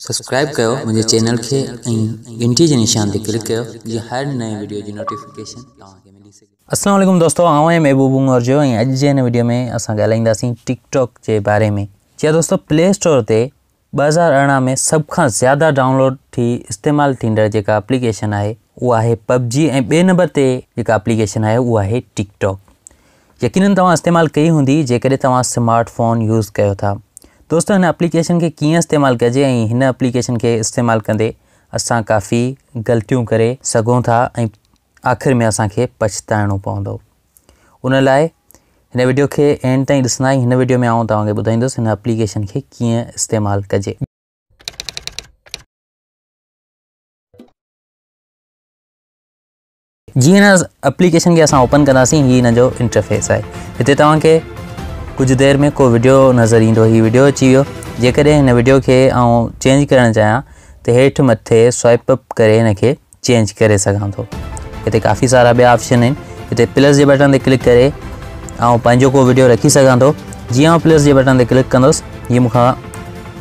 Subscribe ڪيو منهنجي channel کي ۽ گهنٽي جي نشان تي ڪلڪ ڪيو جيئن هر نئين وڊيو جي نوٽيفڪيشن توهان کي ملي سگهي السلام عليڪم دوستو آئون آهيان محبوب عمر جو ۽ اڄ جي هن وڊيو ۾ اسان ڳالهائينداسين ٽڪ ٽاڪ جي باري ۾ جي هاں دوستو پلي اسٽور تي ٻه هزار ارڙهن ۾ سڀ کان زياده ڊائونلوڊ ٿي استعمال ٿيندڙ جيڪا اپليڪيشن آهي اها آهي پب جي ۽ ٻئي نمبر تي جيڪا اپليڪيشن آهي اها آهي ٽڪ ٽاڪ يقينن توهان استعمال ڪئي هوندي جيڪڏهن توهان سمارٽ فون يوز ڪيو ٿا. دوستو هن اپليڪيشن کي ڪيئن استعمال ڪجي ۽ هن اپليڪيشن کي استعمال ڪندي اسان ڪافي غلطيون ڪري سگهون ٿا ۽ آخر ۾ اسان کي پڇتائڻو پوندو ان لاء هن وڊيو کي اينڊ تائين ڏسندا ۽ هن وڊيو ۾ آئون توهان کي ٻڌائيندس هن اپليڪيشن کي ڪيئن استعمال ڪجي. جي هن اپليڪيشن کي اسان اوپن ڪنداسين هي هن جو انٽرفيس آهي هتي توهان کي ڪجهه دير ۾ ڪو ويڊيو نظر ايندو هي ويڊيو اچي ويو جيڪڏهن هن ويڊيو کي آئون چينج ڪرڻ چاهيان ته هيٺ مٿي سوائپ اپ ڪري هن کي چينج ڪري سگهان ٿو هتي ڪافي سارا ٻيا آپشن آهن هتي پلس جي بٽن تي ڪلڪ ڪري آئون پنهنجو ڪو ويڊيو رکي سگهان ٿو جي آئون پلس جي بٽن تي ڪلڪ ڪندس هي مون کان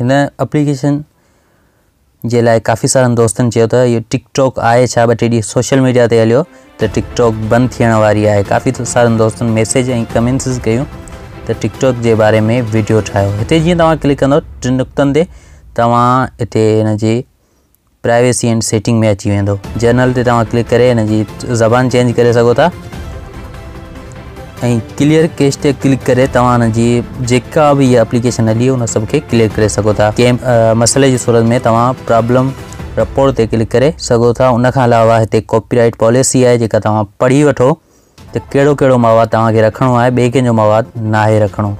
هن اپليڪيشن جي لاء ڪافي سارن دوستن چيو ته اهو ٽڪ ٽاڪ آهي ڇا ٻه ٽي ڏينهن سوشل ميڊيا تي هليو ته ٽڪ ٽاڪ بند ٿيڻ واري آهي ڪافي سارن دوستن ميسيج ۽ ڪمينسز ڪيون ته ٽڪ ٽاڪ جي باري ۾ ويڊيو ٺاهيو هتي جيئن توهان ڪلڪ ڪندو ٽن نقطن تي توهان هتي هن جي پرائيويسي اينڊ سيٽنگ ۾ اچي ويندو جنرل تي توهان ڪلڪ ڪري ان جي زبان چينج ڪري سگهو ٿا ۽ ڪليئر ڪيش تي ڪلڪ ڪري توهان ان جي جيڪا به هي اپليڪيشن هلي ان سڀ کي ڪليئر ڪري سگهو ٿا ڪنهن مسئلي جي صورت ۾ توهان پرابلم رپورٽ تي ڪلڪ ڪري سگهو ٿا ان کان علاوه هتي ڪاپي رائيٽ پاليسي آهي جيڪا توهان پڙهي وٺو ته ڪهڙو ڪهڙو مواد توهان کي رکڻو آهي، ٻئي ڪنهن جو مواد ناهي رکڻو.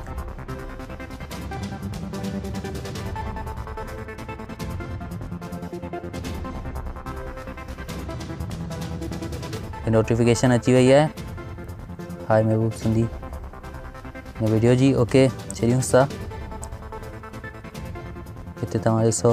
نوٽيفڪيشن اچي وئي آهي هاء محبوب سنڌي هن ويڊيو جي اوڪي ڇڏيونس ٿا هتي توهان ڏسو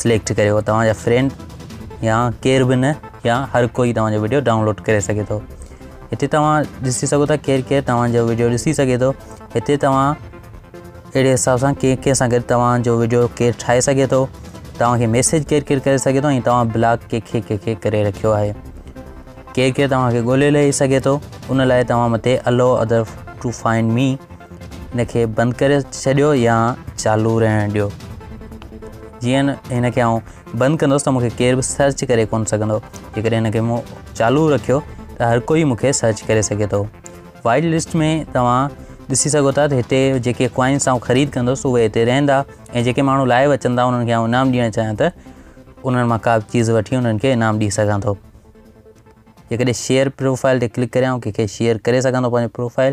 سليڪٽ ڪريو توهان جا فرينڊ يا ڪير به نه يا هر ڪوئي توهان جو ويڊيو ڊائونلوڊ ڪري سگهي ٿو هتي توهان ڏسي سگهو ٿا ڪير ڪير توهان جو ويڊيو ڏسي سگهي ٿو هتي توهان اهڙي حساب سان ڪير ڪير سان گڏ توهان جو ويڊيو ڪير ٺاهي سگهي ٿو توهان کي ميسج ڪير ڪير ڪري سگهي ٿو ۽ توهان بلاگ ڪي کي ڪي کي ڪري رکيو آهي ڪير ڪير توهان کي ڳولي لهي سگهي ٿو ان لاء توهان مٿي allow other to find me ان کي بند ڪري ڇڏيو يا چالو رهڻ ڏيو جيئن هن کي آئون بند ڪندس ته مونکي ڪير به سرچ ڪري ڪون سگهندو جيڪڏهن هن کي مون چالو رکيو ته هر ڪوئي مونکي سرچ ڪري سگهي ٿو وائيٽ لسٽ ۾ توهان ڏسي سگهو ٿا ته هتي جيڪي ڪوائنس آئون خريد ڪندس اهي هتي رهندا ۽ جيڪي ماڻهو لائيو اچن ٿا انهن کي آئون انعام ڏيڻ چاهيان ته انهن مان ڪا چيز وٺي انهن کي انعام ڏيئي سگهان ٿو جيڪڏهن شيئر پروفائل تي ڪلڪ ڪريان ڪنهن کي شيئر ڪري سگهان ٿو پنهنجو پروفائل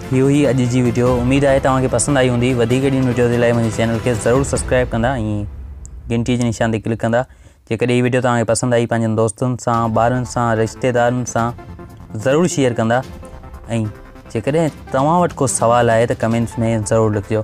هي هئي اڄ جي وڊيو اميد آهي توهان کي پسند آئي هوندي وڌيڪ اهڙين وڊيوز لاء منهنجي چينل کي ضرور سبسڪرائب ڪندا ۽ گھنٽي جي نشان تي ڪلڪ ڪندا جيڪڏهن هي وڊيو توهان کي پسند آئي پنهنجن دوستن سان ٻارن سان رشتيدارن سان ضرور شيئر ڪندا ۽ جيڪڏهن توهان وٽ ڪو سوال آهي ته ڪمينٽس ۾ ضرور لکجو